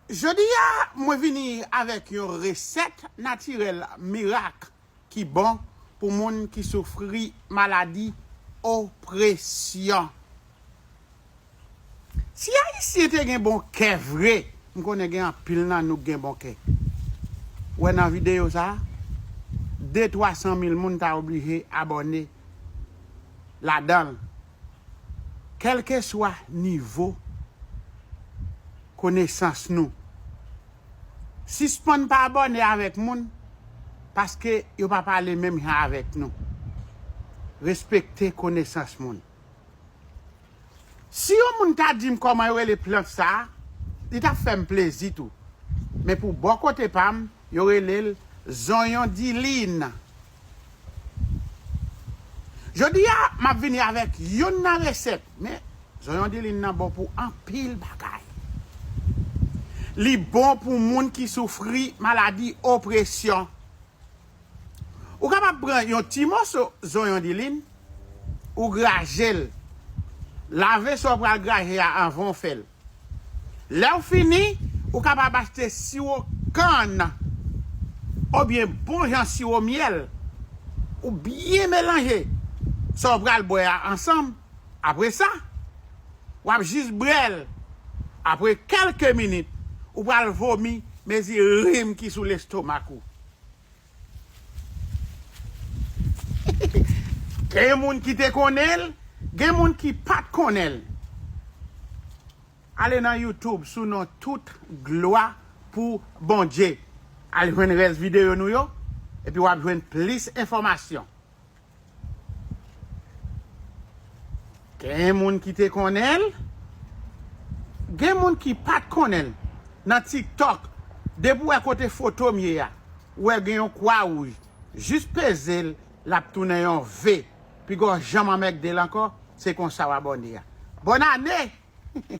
Jodi a mwen vini avèk yon resèt natirèl mirak ki bon pou moun ki soufri maladi opresyon. Si ayisyen te gen bon kè vre, m konnen gen anpil nan nou k gen bon kè. Ou wè nan videyo sa, de twa san mil moun ta oblije abòne ladan l Kèlkeswa nivo konesans nou. Sispann pa abòne avèk moun paske yo pa pale menm jan avèk nou. Respekte konesans moun. Si yon moun ta dim kòman yo rele plant sa, li tap fèm plezi tou. Men pou bò kote pam, yo relel zonyon dilin Jodi a map vini avèk youn nan resèt men zonyon dilin nan bon pou anpil bagay. Li bon pou moun ki soufri maladi opresyon. Ou kapab pran yon ti moso zonyon dilin ou grajel lave sa ou pral graje a anvan ou fèl. Lè ou fini, ou kapab achte siwo kann obyen bon jan siwo myèl, ou byen melanje sa ou pral bwè a ansanm, apre sa, w ap jis bwè l, apre kèlke minit, ou pral vomi mezi rim ki sou lestomak ou. Gen moun ki te konnen l, gen moun ki pa t konnen l. Ale nan YouTube sou non Tout glwa pou Bondye. Al jwenn rès videyo nou yo, epi w ap jwenn plis enfòmasyon. Gen moun ki te konnen l, gen moun ki pat konnen l. Nan tiktok, depi w wè kote foto m ye a, ou wè gen yon kwa wouj, jis peze l lap tounen yon V, pigaw janm anmègde l ankò, se konsa w abòne a. Bòn ane!